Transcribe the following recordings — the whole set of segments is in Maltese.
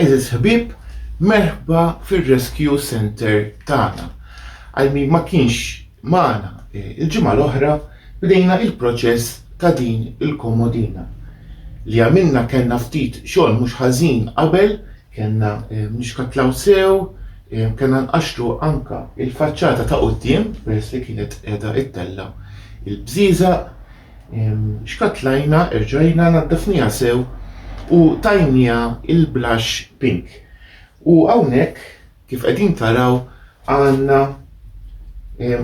Eżis ħbib, merħba fir-Rescue Center tagħna. Għal min ma kienx magħna eh, il-ġimgħa l-oħra bdejna il-proċess ta' din il-komodina. Li għamilna kellna ftit xogħol mhux ħażin qabel, kellna eh, nixkatlaw sew, Kellna nqaxxlu anke l-faċċata ta' quddiem peress li kienet qiegħda ittella' l-bżieżaq. Xkattlajna, erġajna, naddafniha sew u tajniha l-blush pink. U hawnhekk, kif qegħdin taraw, għandna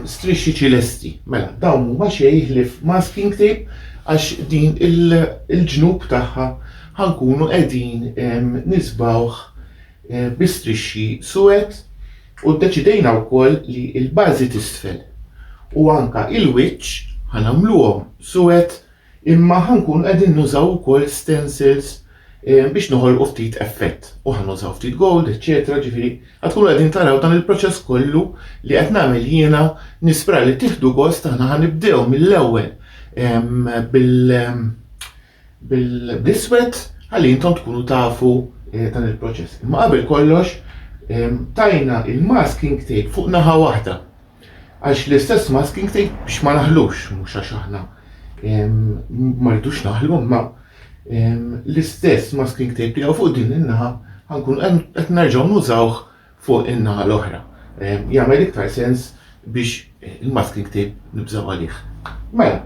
strixxi ċilesti. Mela, dawn mhuma xejn ħlief masking tape għax din il-ġnub tagħha ħa nkunu qegħdin nisbgħuh bi strixxi suwed u ddeċidejna wkoll li l-bażi t'isfel u anke l-wiċċ ħa nagħmluhom suwed imma ħa nkunu qegħdin nużaw ukoll stencils biex noħolqu ftit effett u ħa nużaw ftit gold, eċċetera, ġifieri ħa tkunu qegħdin taraw dan il-proċess kollu li qed nagħmel jiena nispera li tieħdu gost aħna ħa nibdew mill-ewwel bil bl-iswed ħalli intom tkunu tafu eh, dan il-proċess. Imma qabel kollox tajna il-masking tape fuq naħa waħda. Għax l-istess masking tape biex ma naħlux, mhux għax aħna ma rridux naħlu, ma l-istess masking tape li fuq din in-naħa ħankun qed nerġgħu nużawh fuq in-naħa l-oħra. Jagħmel iktar sens biex il-masking tape nibżgħu għalih. Mela,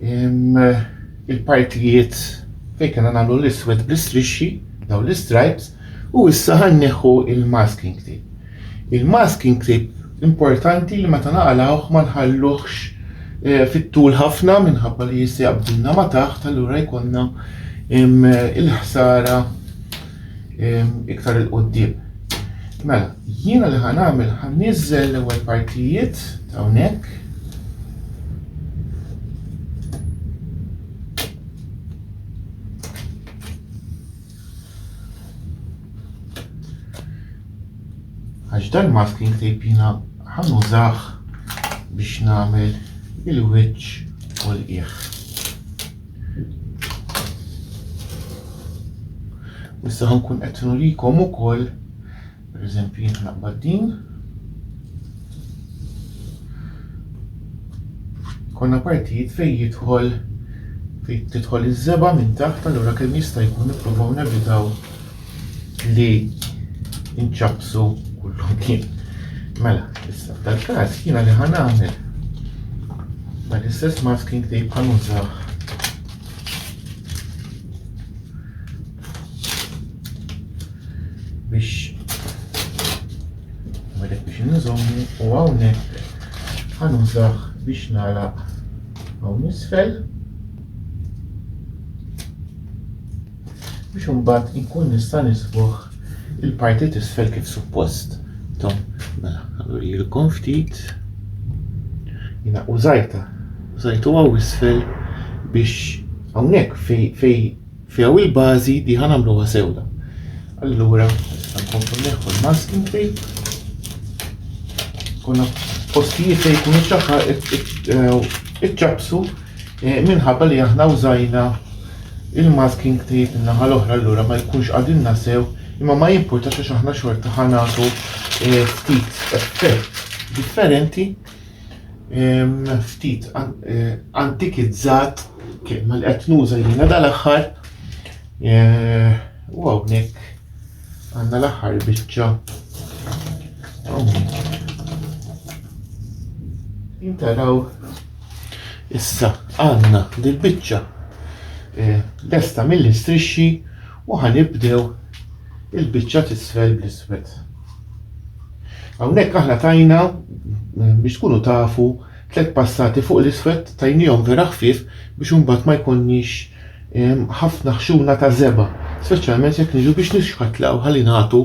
il-partijiet fejn kellna nagħmlu l-iswed bl-istrixxi, dawn l-istripes, u issa ħa nneħħu il-masking tape. Il-masking tape importanti li meta naqalgħuh ma nħalluhx eh, fit-tul ħafna minħabba li jista' jaqbdilna ma taħt, allura jkollna il-ħsara iktar il-qoddim. Mela, jiena li ħan għamil ħan nizzel l-ewel partijiet ta' unek. Għax dan masking tape jiena ħan użax biex namel il-witch u l-iħ. U issa ħankun qed nurikom ukoll, pereżempju jien naqbad din. Konna partijiet fejn jidħol fejn tidħol iż-żeba minn taħt allura kemm jista' jkun nippruvaw nevitaw li nċabsu kullum kien. Mela, issa, tal-kas jina li ħan għamil. Ma l-istess masking tape ħan użaw. Biex ma dek biex nżommu u għawnek ħan użaw biex nalaq għaw nisfel. biex imbagħad inkun nista' nisbuħ il-parti t'isfel kif suppost. Tom, mela, jilkom ftit. Jina użajta, użajtu għaw isfel biex għawnek fej fej fej għaw il-bazi di ħanamlu għasewda. Allura, nista' nkomplu neħu l-masking tape. Kuna postijiet li jkunu ċaħħa iċċabsu eh, minħabba li aħna użajna Il-masking tape in-naħa l-oħra allura ma jkunx qagħdilna sew imma ma jimpurtax għax aħna xorta ħa nagħtu eh, ftit effett differenti ftit eh, antikizzat kelma li qed nuża jiena dal-aħħar eh, u hawnhekk għandna l-aħħar biċċa hawnhekk. Intaraw Issa għandna dil-biċċa eh, lesta mill-istrixxi u ħanibdew il-biċċa tisfel bl-iswed. Hawnhekk aħna tajna eh, biex tkunu tafu tliet passati fuq l-iswed tajnihom vera ħfief biex imbagħad ma jkunniex eh, ħafna ħxuna ta' zeba, speċjalment jekk niġu biex nixħatlaw ħalli nagħtu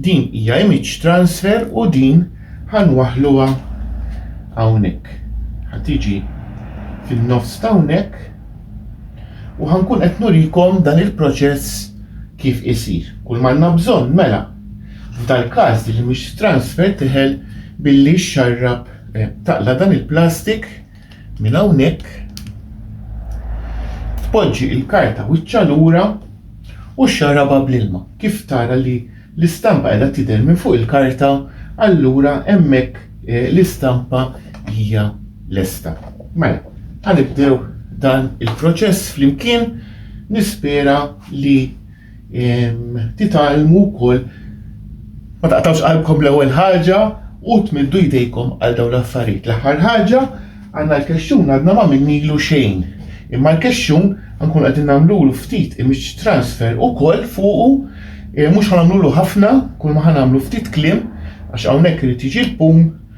Din hija image transfer u din ħa nwaħħluha hawnhekk. Ħa tiġi fin-nofs t'hawnhekk u ħa nkun qed nurikom dan il-proċess kif isir. Kull m'għandna bżonn mela f'dal-każ din l-image transfer tidħel billi xxarrab, taqla' dan il-plastik, Minn hawnhekk tpoġġi l-karta wiċċha lura u xxarabha bl-ilma. Kif tara li l-istampa qiegħda tidher minn fuq il-karta, allura hemmhekk eh, l-istampa hija lesta. Mela, ħanibdew dan il-proċess flimkien nispera li titgħallmu wkoll ma taqtawx qalbkom l-ewwel ħaġa u tmiddu jdejkom għal dawn l-affarijiet. L-aħħar ħaġa għandna l-kexxun għadna ma minnilu xejn. Imma l-kexxun nkun qegħdin nagħmlulu ftit image transfer ukoll fuqu eh, mhux ħanamlulu ħafna, kull ma ħanamlu ftit kliem għax hawnhekk irid jiġi l-pum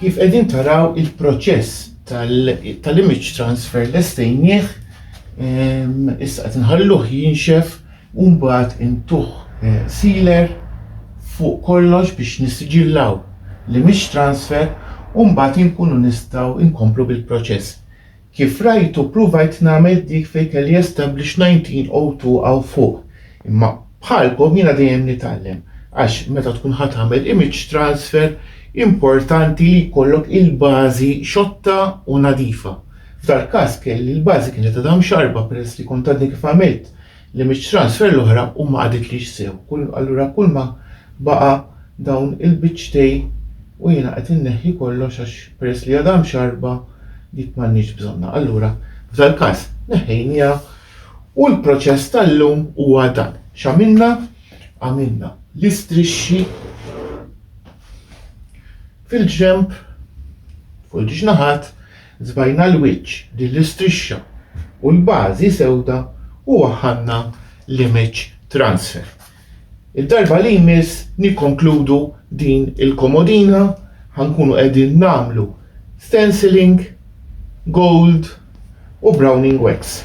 Kif qegħdin taraw il-proċess tal-image transfer lestejnieh ehm, issa qed inħalluh jinxef u mbagħad intuh eh, sealer fuq kollox biex nissiġillaw l-image transfer u mbagħad inkunu nistgħu nkomplu bil-proċess. Kif rajtu pruvajt nagħmel dik fejn kelli establish 1902 hawn fuq, imma bħalkom jiena dejjem nitgħallem għax meta tkun ħa tagħmel image transfer importanti li jkollok il-bażi xotta u nadifa. F'dal-każ kelli l-bażi kienet għadha mxarrba peress li kont għadni kif għamilt li mit-transfer l-oħra u ma qagħditlix sew. Allura kull ma baqa' dawn il-biċċtej u jiena qed inneħħi kollox għax peress li għadha mxarrba dik m'għandniex bżonnha. Allura f'dal-każ neħħejniha u l-proċess tal-lum huwa dan. X'għamilna? Għamilna l-istrixxi fil-ġenb, fuq il-ġnaħat, Żbajna l-wiċċ, din l-istrixxa, u l-bażi sewda u waħħalna l-image transfer. Id-darba li jmiss nikkonkludu din il-komodina ħa nkunu qegħdin nagħmlu stenciling, gold u browning wax.